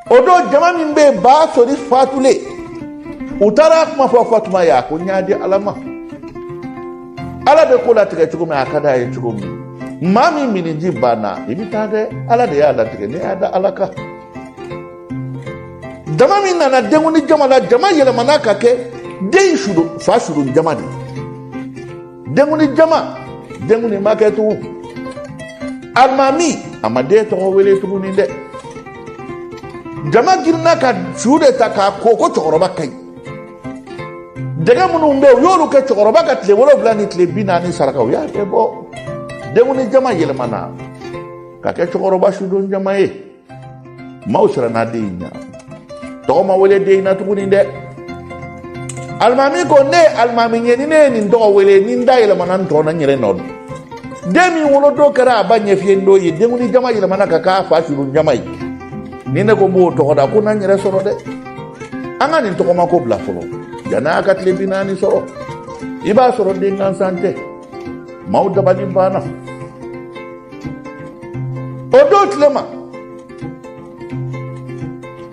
o don jama min bɛ yen ba sori fatulen u taara a kuma fɔ fatuma ye a ko n y'a di ala ma ala bɛ ko latigɛ cogo min a ka d'a ye cogo min maa min miniji banna i bɛ taa dɛ ala de y'a latigɛ ne y'a da ala kan jama min nana denkundi jama la jama yɛlɛmana ka kɛ den fa sudon jama de ye denkundi jama denkundi ma kɛ tugun alimami a ma den tɔgɔ wele tuguni dɛ jama girinna ka su de ta k'a ko ko cɛkɔrɔba ka ɲi dɛgɛ minnu bɛ yen u y'olu kɛ cɛkɔrɔba ka tile wolonwula ni tile bi naani saraka u y'a bɛɛ bɔ denkundi jama yɛlɛmana ka kɛ cɛkɔrɔba sudon jama ye maaw siranna den in ɲa tɔgɔ ma wele den in na tuguni dɛ alimami ko ne ye alimami ye ni ne ye nin tɔgɔ wele ni n da yɛlɛmana n tɔn na n yɛrɛ nɔ don den min wolodon kɛra a ba ɲɛfiyen don ye denkundi jama yɛlɛmana ka k'a fa sudon jama ye ni ne ko n b'o tɔgɔ da ko na n yɛrɛ sɔrɔ dɛ an ka nin tɔgɔma ko bila fɔlɔ yan'a ka tile bi naani sɔrɔ i b'a sɔrɔ den gansan tɛ maaw dabali banna o don tile ma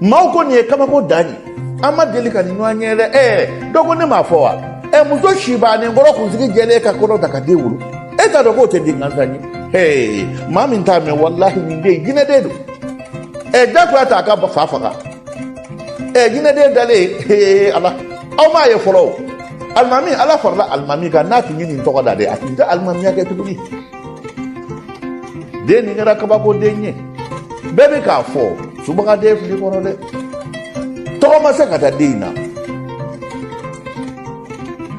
maaw ko nin ye kabako dan ye an ma deli ka nin ɲɔgɔn ye dɛ ɛɛ dɔ ko ne m'a fɔ wa ɛ muso si bannen kɔrɔ kunsigi jɛlen ka kɔnɔ ta ka den wolo e t'a dɔn k'o tɛ den gansan ye ee maa min t'a mɛn walahi nin den jinɛ den don ɛ jagoya t'a ka fa faga ɛ jinɛ den dalen ee ala aw m'a ye fɔlɔ o alimami ala farala alimami kan n'a tun ye nin tɔgɔ da dɛ a tun tɛ alimamiya kɛ tuguni den nin kɛra kabako den ye bɛɛ bɛ k'a fɔ subagaden fili kɔnɔ dɛ tɔgɔ ma se ka da den in na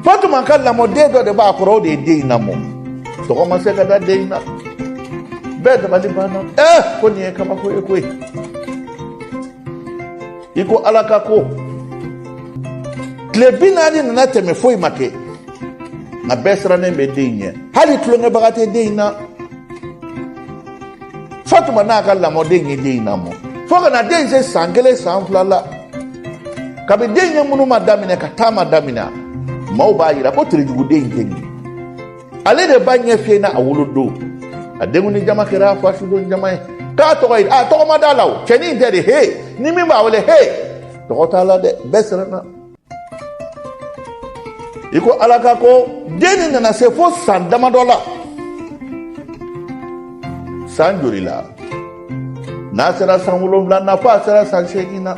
fatuma ka lamɔden dɔ de b'a kɔrɔ o de ye den in lamɔ tɔgɔ ma se ka da den in na bɛɛ dabali banna ɛ ko nin ye kabako ye koyi i ko ala ka ko tile bi naani nana tɛmɛ foyi ma kɛ nka bɛɛ sirannen bɛ den in ɲɛ hali tulonkɛbaga tɛ den in na fatuma n'a ka lamɔden ye den in lamɔ fo ka na den in se san kelen san fila la kabi den ye ŋunuma daminɛ ka taama daminɛ maaw b'a yira ko terejuguden in tɛ nin ale de ba ɲɛ fiyenna a wolodon a denkundi jama kɛra a fa sudon jama ye k'a tɔgɔ ye a tɔgɔ ma d'a la o cɛnin tɛ de he ni min b'a wele he tɔgɔ t'a la dɛ bɛɛ siranna i ko ala ka ko den in nana se fo san damadɔ la san joli la n'a sera san wolonwula na fo a sera san seegin na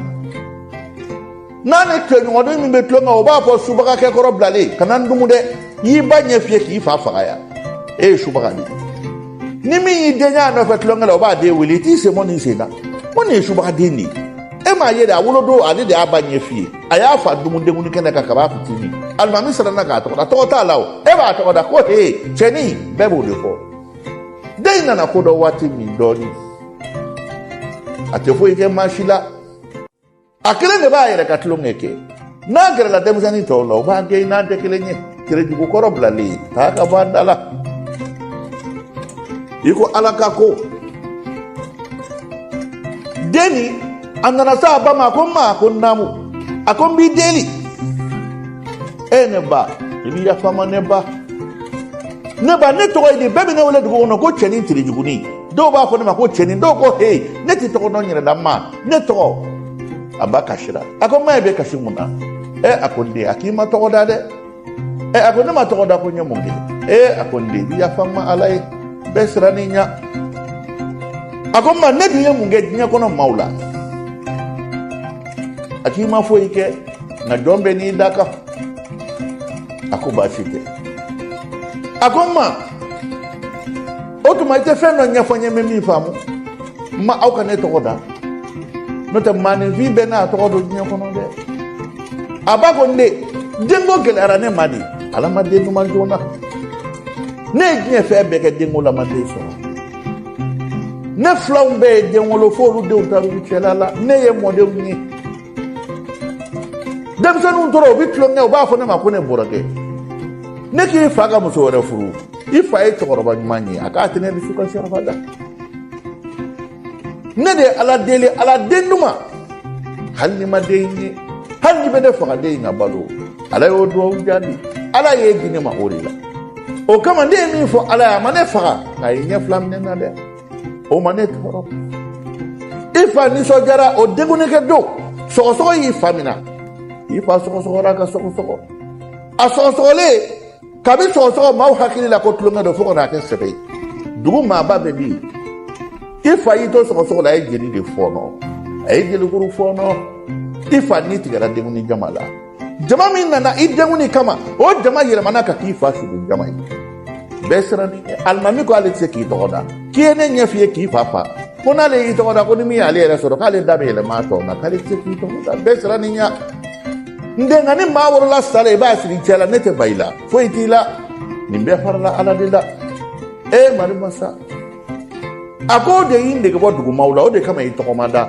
n'a ni tɔɲɔgɔnnin min bɛ tulon kɛ o b'a fɔ subagakɛkɔrɔ bilalen kana n dumu dɛ y'i ba ɲɛ fiyɛ k'i fa faga yan e ye subaga de ye ni min y'i den y'a nɔfɛ tulonkɛ la o b'a den wele i t'i sen bɔ nin sen na ko nin ye subagaden de ye e m'a ye de a wolodon ale de y'a ba ɲɛ fiyɛ a y'a fa dumun denkundi kɛnɛ kan kab'a fitini alimami siranna k'a tɔgɔ da tɔgɔ t'a la o e b'a tɔgɔ da ko he cɛnin bɛɛ b'o de fɔ den in nana ko dɔn waati min dɔɔni a tɛ foyi kɛ maa si la a kelen de b'a yɛrɛ ka tulonkɛ kɛ n'a gɛrɛla denmisɛnnin tɔw la u b'a gɛn i n'an tɛ kelen ye terejugu kɔrɔ bilalen taa ka bɔ an da la i ko ala ka ko den in a nana se a ba ma a ko ma a ko naamu a ko n b'i deli e ne ba i bɛ yafa n ma ne ba ne ba ne tɔgɔ ye di bɛɛ bɛ ne wele dugu kɔnɔ ko cɛnin terejugunin dɔw b'a fɔ ne ma ko cɛnin dɔw ko he ne tɛ tɔgɔ dɔn n yɛrɛ la ma ne tɔgɔ a ba kasira a ko ma e bɛ kasi mun na ɛ a ko n den a k'i ma tɔgɔ da dɛ ɛ a ko ne ma tɔgɔ da ko n ye mun kɛ ɛ a ko n den i yafa n ma ala ye bɛɛ siran i ɲa a ko ma ne dun ye mun kɛ diɲɛ kɔnɔ maaw la a k'i ma foyi kɛ nka jɔn bɛɛ n'i dakan a ko baasi tɛ a ko n ma o tuma i tɛ fɛn dɔ ɲɛfɔ n ye n bɛ min faamu n ma aw ka ne tɔgɔ da n'o tɛ maaninfin bɛɛ n'a tɔgɔ don diɲɛ kɔnɔ dɛ a ba ko n den denko gɛlɛyara ne ma de ala ma den di n ma joona ne ye diɲɛ fɛn bɛɛ kɛ denko la n ma den sɔrɔ ne filanw bɛɛ ye den wolo fo olu denw taara u cɛla la ne ye mɔdenw ye denmisɛnninw tora u bɛ tulonkɛ u b'a fɔ ne ma ko ne bɔrɔgɛ ne k'i fa ka muso wɛrɛ furu i fa ye cɛkɔrɔba ɲuman ye a k'a tɛ ne dusu kasi abada ne de ye ala deli ala den di n ma hali ni n ma den ye hali n'a bɛ ne faga den in ka balo ala y'o dugawu jaabi ala y'e di ne ma o de la o kama ne ye min fɔ ala ye a ma ne faga nka a ye n ɲɛ fila minɛ n na dɛ o ma ne tɔɔrɔ i fa nisɔndiyara o denkundi kɛ don sɔgɔsɔgɔ y'i fa minɛ i fa sɔgɔsɔgɔra ka sɔgɔsɔgɔ a sɔgɔsɔgɔlen kabi sɔgɔsɔgɔ maaw hakili la ko tulonkɛ don fo ka n'a kɛ sɛbɛ ye dugu maaba bɛ min i fa y'i to sɔgɔsɔgɔ la a ye jeli de fɔɔnɔ a ye jelikuru fɔɔnɔ i fa ni tigɛra denkundi jama la jama min nana i denkuni kama o jama yɛlɛmana ka k'i fa sugu jama ye bɛɛ sirann'i ɲɛ alimami ko ale tɛ se k'i tɔgɔ da k'i ye ne ɲɛ fiyɛ k'i fa fa ko n'ale y'i tɔgɔ da ko ni min y'ale yɛrɛ sɔrɔ k'ale da bɛ yɛlɛma a tɔn na k'ale tɛ se k'i tɔgɔ da bɛɛ sirann'i ɲa n den nka ni maa wolola sa la i b'a siri cɛ la ne tɛ ban i la foyi t'i la nin bɛɛ farala ala de la e mari masa a ko o de y'i nege bɔ dugumaaw la o de kama i tɔgɔ ma da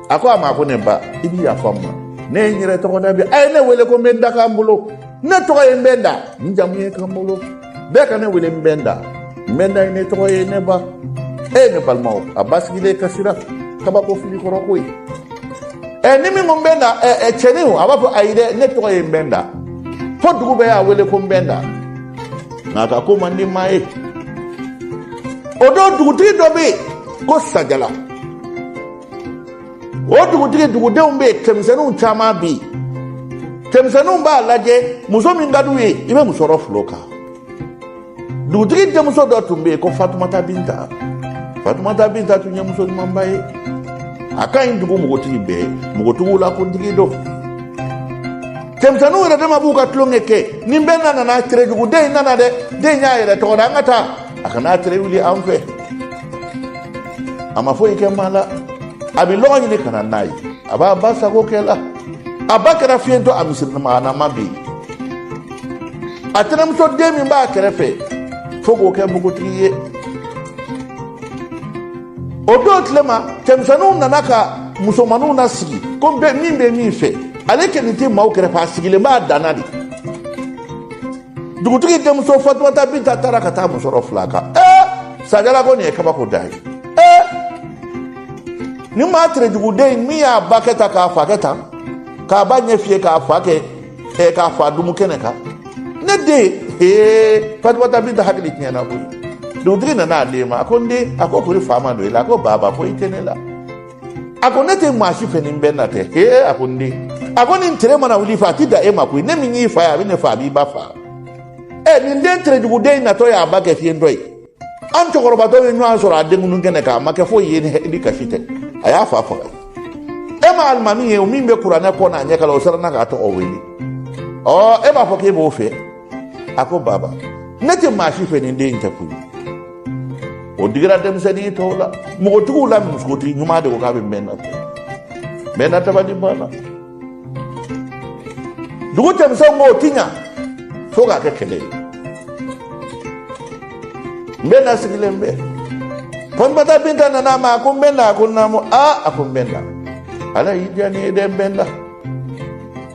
a ko a ma ko ne ba i bɛ yafa n ma ne ye n yɛrɛ tɔgɔ da bi a ye ne wele ko n bɛ n da kanbolo ne tɔgɔ ye n bɛ n da n jamu ye kanbolo bɛɛ ka ne wele n bɛ n da n bɛ n da ye ne tɔgɔ ye ne ba e ye ne balimaw a ba sigilen kasira kabako fili kɔrɔ ko ye ɛ ni min ko n bɛ n da ɛ cɛnin a b'a fɔ ayi dɛ ne tɔgɔ ye n bɛ n da fo dugu bɛɛ y'a wele ko n bɛ n da nk'a ka ko man di maa ye o don dugutigi dɔ bɛ yen ko sajala o dugutigi dugudenw bɛ yen cɛmisɛnninw caman bɛ yen cɛmisɛnninw b'a lajɛ muso min ka d'u ye i bɛ musɔrɔ fil'o kan dugutigi denmuso dɔ tun bɛ yen ko fatumata binta fatumata binta tun ye muso ɲumanba ye a ka ɲi dugu npogotigi bɛɛ ye npogotigiw la kuntigi don cɛmisɛnninw yɛrɛ dama b'u ka tulonkɛ kɛ ni n bɛ n da nana tere jugu den in nana dɛ den y'a yɛrɛ tɔgɔ da an ka taa a kana tere wuli an fɛ a ma foyi kɛ maa la a bɛ lɔgɔ ɲini ka na n'a ye a b'a ba sago kɛ la a ba kɛra fiyentɔ a misirimaganaman bɛ yen a tɛnɛmuso den min b'a kɛrɛfɛ fo k'o kɛ npogotigi ye o don tile ma cɛmisɛnninw nana ka musomanninw na sigi ko bɛɛ min bɛ min fɛ ale kɔni tɛ maaw kɛrɛfɛ a sigilen b'a danna de dugutigi denmuso fatumata binta taara ka taa musɔrɔ fil'a kan ee sajala ko nin ye kabako da ye ee ni maa terejuguden min y'a ba kɛ tan k'a fa kɛ tan k'a ba ɲɛ fiyɛ k'a fa kɛ e k'a fa dumu kɛnɛ kan ne den ee fatumata binta hakili tiɲɛna koyi dugutigi nana ale ma a ko n den a ko kori fa ma don i la a ko baba foyi tɛ ne la a ko ne tɛ maa si fɛ ni n bɛ n da tɛ ee a ko n den a ko nin tere mana wuli i fɛ a ti dan e ma koyi ne min y'i fa ye a bɛ ne fa a b'i ba fa ɛ nin den terejuguden in natɔ y'a ba kɛ fiyentɔ ye an cɛkɔrɔba tɔw ye ɲɔgɔn sɔrɔ a denkunun kɛnɛ kan a ma kɛ foyi ye ni kasi tɛ a y'a fa faga e ma alimami ye o min bɛ kuranɛ kɔ n'a ɲɛ kalan o siranna k'a tɔgɔ wele ɔ e b'a fɔ k'e b'o fɛ a ko baba ne tɛ maa si fɛ nin den in tɛ koyi o digira denmisɛnnin tɔw la npogotigiw la musokuntigi ɲuman de ko k'a bɛ n bɛ n da ta n bɛ n da tabali banna dugu cɛmisɛnw ko o ti ɲa fo k'a kɛ kɛlɛ ye nbɛnda sigilen bɛ fatumata binta nana a ma a ko nbɛnda a ko naamu a a ko nbɛnda ala y'i diya ne ye dɛ nbɛnda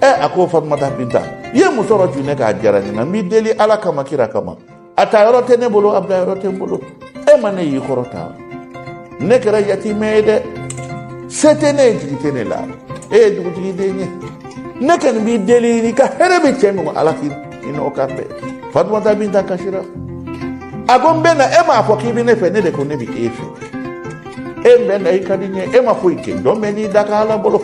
ɛ a ko fatumata binta i ye musɔrɔ cun ne kan a diyara n ye nka n b'i deli ala kama kira kama a ta yɔrɔ tɛ ne bolo a bila yɔrɔ tɛ n bolo e ma ne y'i kɔrɔ tan ne kɛra yatimɛ ye dɛ se tɛ ne ye jigi tɛ ne la e ye dugutigi den ye ne kɔni b'i deli n'i ka hɛrɛ bɛ cɛ min ala k'i i n'o kan bɛn fatumata binta kasira a ko nbɛnda e m'a fɔ k'i bɛ ne fɛ ne de ko ne bɛ e fɛ nbɛnda i ka di n ye e ma foyi kɛ jɔn bɛɛ n'i dakan ala bolo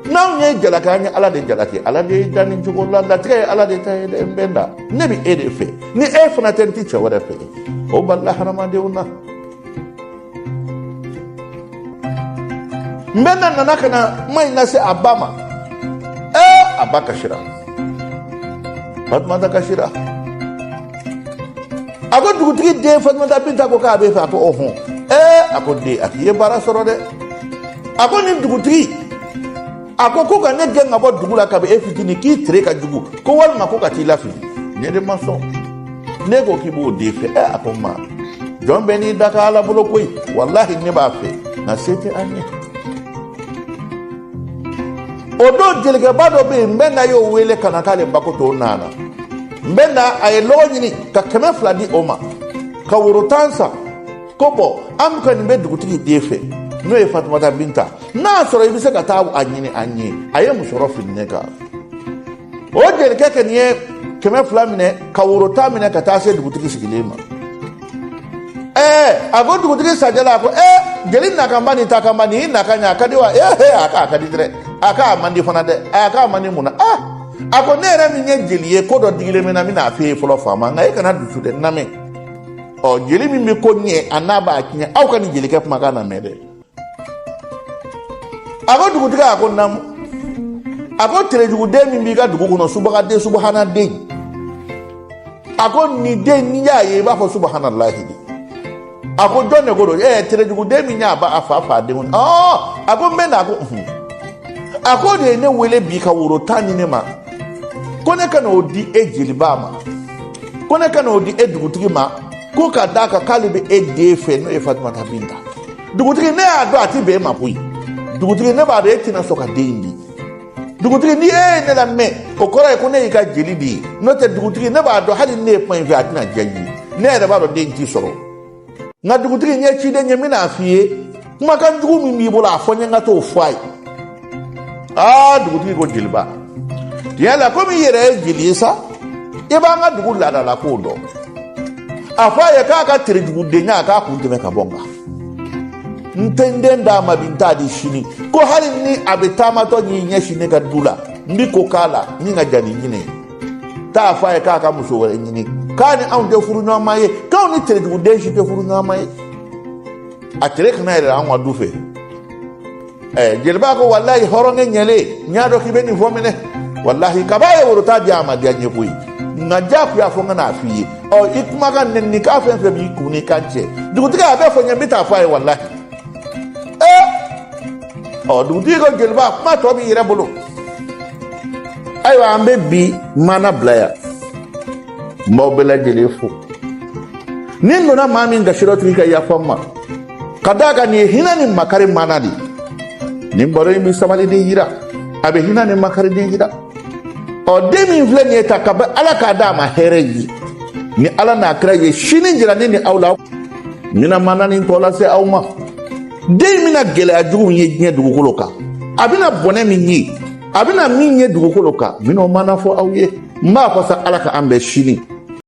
n'anw y'e jalaki an ye ala de jalaki ala de y'i dan nin cogo la latigɛ ye ala de ta ye dɛ nbɛnda ne bɛ e de fɛ ni e fana tɛ n ti cɛ wɛrɛ fɛ o balila hadamadenw na nbɛnda nana ka na kuma in lase a ba ma ee a ba kasira fatumata kasira a ko dugutigi den fatumata binta ko k'a b'e fɛ a ko ɔhɔn ee a ko den a k'i ye baara sɔrɔ dɛ a ko nin dugutigi a ko ko ka ne gɛn ka bɔ dugu la kabi e fitini k'i tere ka jugu ko walima ko ka t'i lafili ne de ma sɔn ne ko k'i b'o den fɛ ɛ a ko ma jɔn bɛɛ n'i dakan ala bolo koyi walahi ne b'a fɛ nka se tɛ an ye o don jelikɛba dɔ bɛ yen nbɛnda y'o wele ka na k'ale bako to nana nbɛnda a ye lɔgɔ ɲini ka kɛmɛ fila di o ma ka woro tan san ko bɔn an kɔni bɛ dugutigi den fɛ n'o ye fatumata binta n'a sɔrɔ i bɛ se ka taa a ɲini an ye a ye musɔrɔ fili ne kan o jelikɛ kɔni ye kɛmɛ fila minɛ ka woro tan minɛ ka taa se dugutigi sigilen ma ɛɛ a ko dugutigi sajɛla a ko ɛɛ jeli nakanba ni takanba nin y'i nakan ye a ka di wa ee he a k'a ka di dɛrɛ a k'a man di fana dɛ a k'a man di mun na aa a ko ne yɛrɛ min ye jeli ye ko dɔ digilen bɛ n na n bɛna a f'e ye fɔlɔ faama nka e kana dusu dɛ n lamɛn ɔ jeli min bɛ ko ɲɛ an'a b'a tiɲɛ aw ka nin jelikɛ kumakan lamɛn dɛ a ko dugutigi a ko naamu a ko terejuguden min b'i ka dugu kɔnɔ subagaden subahanaden a ko nin den n'i y'a ye i b'a fɔ subahanalahi de a ko jɔn de ko don ɛɛ terejuguden min y'a ba a fa fa denw ɔ a ko nbɛnda a ko a k'o de ye ne wele bi ka woro tan di ne ma ko ne ka n'o di e jeliba ma ko ne ka n'o di e dugutigi ma ko ka d'a kan k'ale bɛ e den fɛ n'o ye fatumata binta dugutigi ne y'a dɔn a ti bɛn e ma koyi dugutigi ne b'a dɔn e tɛna sɔn ka den in di dugutigi ni e ye ne lamɛn o kɔrɔ ye ko ne y'i ka jeli de ye n'o tɛ dugutigi ne b'a dɔn hali ne ye kuma in fɔ a tɛna diya i ye ne yɛrɛ b'a dɔn den ti sɔrɔ nka dugutigi n ye ciden ye n bɛn'a f'i ye kumakan jugu min b'i bolo a fɔ n ye n ka t'o fɔ a ye aa dugutigi ko jeliba tiɲɛ la komi i yɛrɛ ye jeli ye sa i b'an ka dugu laadala kow dɔn a fɔ a ye k'a ka terejugudenya a k'a kun tɛmɛ ka bɔ n kan n tɛ n den d'a ma bi n t'a di sini ko hali ni a bɛ taamatɔ n'i ɲɛsin ne ka du la n bi ko k'a la min ka jan ni ɲinɛ ye taa a fɔ a ye k'a ka muso wɛrɛ ɲini k'a ni anw tɛ furu ɲɔgɔnma ye k'anw ni terejuguden si tɛ furu ɲɔgɔnma ye a tere kana yɛrɛ anw ka du fɛ ɛɛ jeliba ko walayi hɔrɔnkɛ ɲɛlen n y'a dɔn k'i bɛ nin fɔ minɛ walahi kab'a ye woro ta di a ma diya n ye koyi nka diyagoya fɔ n ka n'a f'i ye ɔ i kumakan nɛnikan fɛn fɛn b'i kun n'i kan cɛ dugutigi a bɛɛ fɔ n ye n bɛ taa fɔ a ye walahi ɔ dugutigi ko jeliba kuma tɔ b'i yɛrɛ bolo ayiwa an bɛ bi maana bila yan n b'aw bɛɛ lajɛlen fo ni n donna maa min gasi rɔ o tigi ka yafa n ma ka d'a kan nin ye hinɛ ni makari maana de ye nin baro in bɛ sabaliden yira a bɛ hinɛ ni makariden yira ɔ den min filɛ nin ye ta ka bɛ ala k'a d'a ma hɛrɛ ye ni ala n'a kira ye sini jira ne ni aw la n bɛna maana nin tɔ lase aw ma den bɛna gɛlɛya jugu min ye diɲɛ dugukolo kan a bɛna bɔnɛ min ye a bɛna min ye dugukolo kan n bɛn'o maana fɔ aw ye n b'a fɔ sa ala ka an bɛn sini